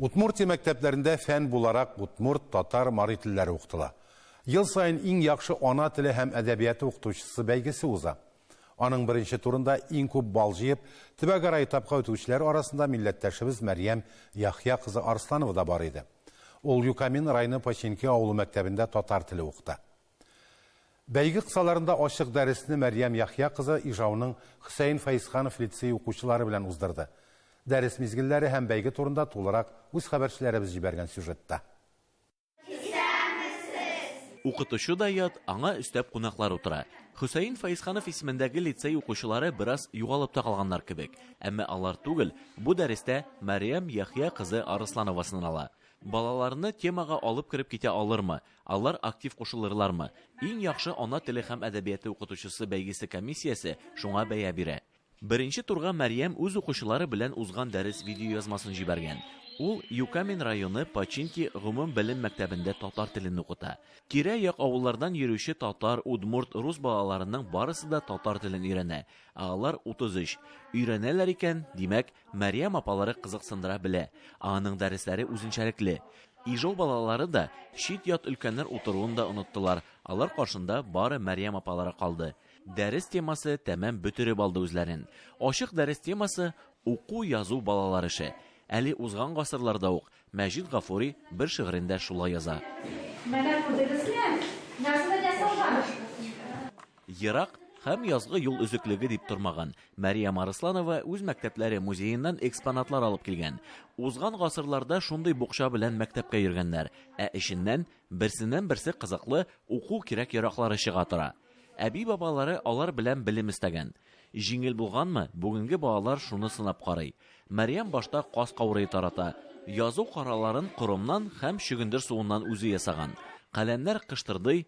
Удмуртия мәктәпләрендә фән буларак удмурт, татар, мари телләре укытыла. Ел саен Иң яхшы ана теле һәм әдәбияты укытучысы бәйгесе уза. Аның беренче турында иң күп балл җыеп, төбәгара этапка үтүчеләр арасында милләттәшебез Мәрьям Яхъя кызы Арсланова да бар иде. Ул Юкамин районы Починки авылы мәктәбендә татар теле укыта. Бәйге кысаларында ачык дәресне Мәрьям Яхъя кызы Ижауның Хөсәен Фәезханов лицее укучылары белән уздырды. Дәрес мизгелләре һәм бәйге турында тулырак үз хәбәрчеләребез җибәргән сюжетта. Укытучы да ят, аңа өстәп кунаклар утыра. Хөсәен Фәезханов исемендәге лицей укучылары бераз югалып та калганнар кебек. Әмма алар түгел, бу дәрестә Мәрьям Яхъя кызы Арысланова сынала. Балаларны темага алып кереп китә алырмы, Алар актив кушылырлармы? Иң яхшы ана теле һәм әдәбияты укытучысы бәйгесе комиссиясе шуңа бәя бирә. Беренче турга Мәрьям үз укучылары белән узган дәрес видеоязмасын җибәргән. Ул Юкамин районы Починки гомумбелем мәктәбендә татар телен укыта. Тирә-як авыллардан йөрүче татар, удмурт, рус балаларының барысы да татар телен өйрәнә, ә алар 33. Өйрәнәләр икән, димәк, Мәрьям апалары кызыксындыра белә, ә аның дәресләре үзенчәлекле. Ижау балалары да чит-ят өлкәннәр утыруын да оныттылар, алар каршында бары Мәрьям апалары калды. Дәрес темасы тәмам бөтереп алды үзләрен. Ачык дәрес темасы, Уку-язу балалар эше. Әле узган гасырларда ук Мәҗит Гафури бер шигырендә шулай яза. Менә күрдегезме, язмый да салган! Ерак һәм язгы юл өзеклеге дип тормаган. Мария Марысланова үз мәктәпләре музееннан экспонатлар алып килгән. Узган гасырларда шундый букча белән мәктәпкә йөргәннәр, ә эченнән берсеннән-берсе кызыклы уку кирәк-яраклары чыга тора. Әби-бабалары алар белән белем эстәгән. Җиңел булганмы, бүгенге балалар шуны сынап карый. Мәрьям башта каз каурые тарата, язу караларын коромнан һәм чөгендер суыннан үзе ясаган. Каләмнәр кыштырдый,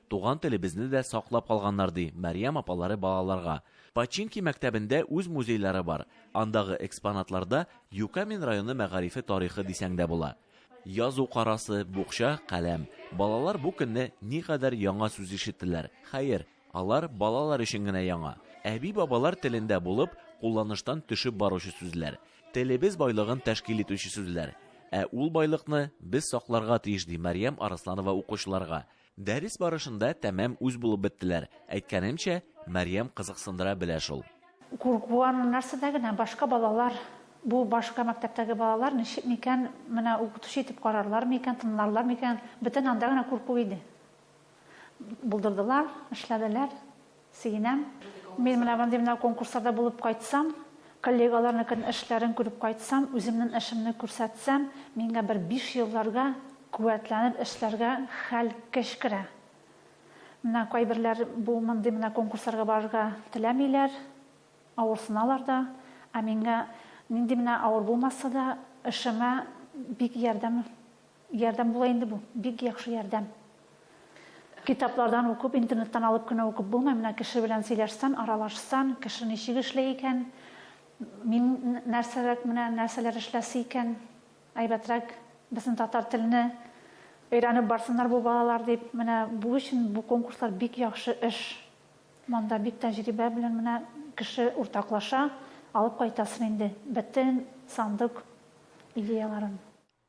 Туган телебезне дә саклап калганнар, ди Мәрьям апалары балаларга. Починки мәктәбендә үз музейлары бар. Андагы экспонатларда Юкамин районы мәгарифе тарихы дисәң дә була. Язу карасы, букча, каләм. Балалар бу көнне никадәр яңа сүз ишеттеләр. Хәер, алар балалар өчен генә яңа. Әби-бабалар телендә булып, кулланыштан төшеп баручы сүзләр. Телебез байлыгын тәшкил итүче сүзләр. Ә ул байлыкны без сакларга тиеш, ди Мәрьям Арысланова укучыларга. Дәрес барышында тәмам үз булып беттеләр. Әйткәнемчә, Мәрьям кызыксындыра белә шул. Куркуым нәрсәдә генә, башка балалар, бу башка мәктәптәге балалар ничек микән, менә укытучы итеп карарлар микән, тыңларлар микән, бөтен анда гына курку иде. Булдырдылар, эшләделәр. Сөенәм. Мин менә мондый менә конкурсларда булып кайтсам, коллегаларныкын эшләрен күреп кайтсам, үземнен эшемне күрсәтсәм, миңгә бер биш елларга куәтләнеп эшләргә хәл, көч керә. Менә кайберләр бу мондый менә конкурсларга барырга теләмиләр, авырсыналар да. Ә миңгә нинди менә авыр булмаса да, эшемә бик ярдәм. Ярдәм була инде бу, бик яхшы ярдәм. Китаплардан укып, интернеттан алып кенә укып булмый, менә кеше белән сөйләшсән, аралашсан, кеше ничек эшләй икән, мин нәрсәрәк менә нәрсәләр эшләсе икән, әйбәтрәк безнең татар телне өйрәнеп барсыннар бу балалар дип, менә бу өчен бу конкурслар бик яхшы эш. Монда бик тәҗрибә белән менә кеше уртаклаша, алып кайтасың инде бөтен сандык идеяларын.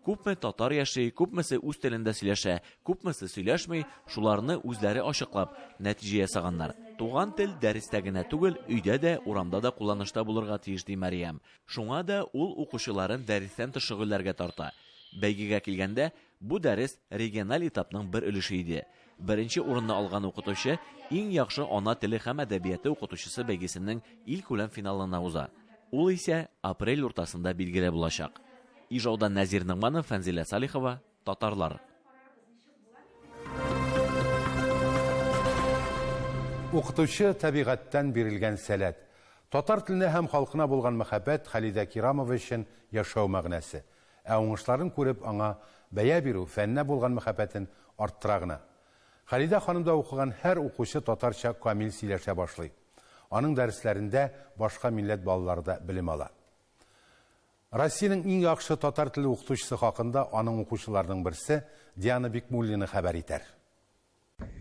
Күпме татар яши, күпмесе үз телендә сөйләшә, күпмесе сөйләшми, шуларны үзләре ачыклап, нәтиҗә ясаганнар. Туган тел дәрестә генә түгел, өйдә дә, урамда да кулланышта булырга тиеш, ди Мәриям. Шуңа да ул укучыларын дәрестән тыш шөгыльләргә тарта. Бәйгегә килгәндә, бу дәрес региональ этапның бер өлеше иде. Беренче урынны алган укытучы Иң яхшы ана теле һәм әдәбияты укытучысы бәйгесенең илкүләм финалына уза. Ул исә апрель уртасында билгеле булачак. Ижаудан Нәзир Ногманов, Фәнзилә Салихова, Татарлар. Укытучы табигатьтән бирелгән сәләт. Татар теленә һәм халкына булган мәхәббәт Халидә Кирамова өчен яшәү мәгънәсе. Ә уңышларын күреп, аңа бәя бирү фәннә булган мәхәббәтен арттыра гына. Халидә ханымда укыган һәр укучы татарча камил сөйләшә башлый. Аның дәресләрендә башка милләт балалары да белем ала. Россиянең иң яхшы татар теле укытучысы хакында аның укучыларының берсе Диана Бикмуллина хәбәр итәр.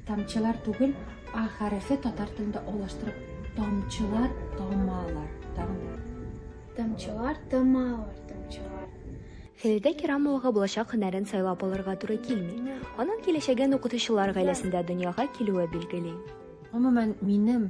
Тамчылар түгел, а хәрефе татар телендә алаштырып тамчылар тамалар. Тагын да. Тамчылар тамалар, тамчылар. Фәлидә Кирамовага булачак һөнәрен сайлап алырга туры килми. Аның киләчәген укытучылар гаиләсендә дөньяга килүе билгели. Гомумән, минем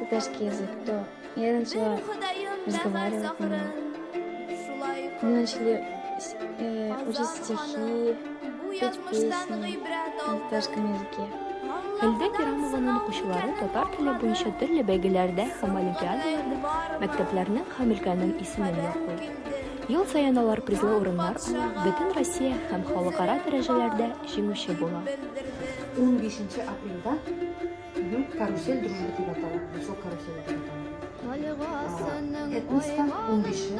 Татарский язык, то я начала разговаривать на нем. Мы начали э, учить стихи, петь песни на татарском языке. Әлдә Керамованың укучылары татар теле буенча төрле бәйгеләрдә һәм олимпиадаларда мәктәпләрнең һәм өлкәнең исемен яклый. Ел саен алар призлы урыннар алып, бөтен Россия һәм халыкара дәрәҗәләрдә җиңүче була. 15 апрельдә Карусель дружбы дип атала. Бусок карусель дип атала. Этноста ун бише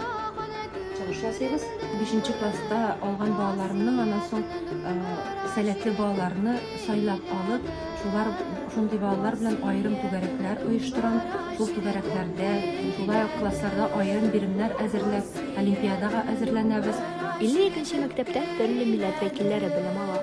чыгыш ясыйбыз. Бишенче класста алган балаларымның аннан соң сәләтле балаларны сайлап алып, шулар шундый балалар белән аерым түгәрәкләр оештырам. Шул түгәрәкләрдә, шулай ук классларда аерым биремнәр әзерләп, олимпиадага әзерләнәбез. 52 мәктәптә төрле милләт вәкилләре белем ала.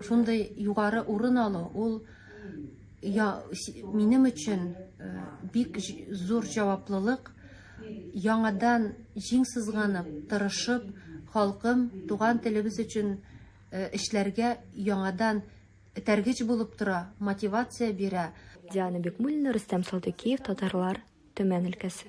Шундый югары урын алу ул я, минем өчен э, бик зур җаваплылык. Яңадан җиң сызганып, тырышып, халкым, туган телебез өчен э, эшләргә яңадан тәргич булып тора, мотивация бирә. Диана Бекмуллина, Рөстәм Салдыкиев, Татарлар, Төмән өлкәсе.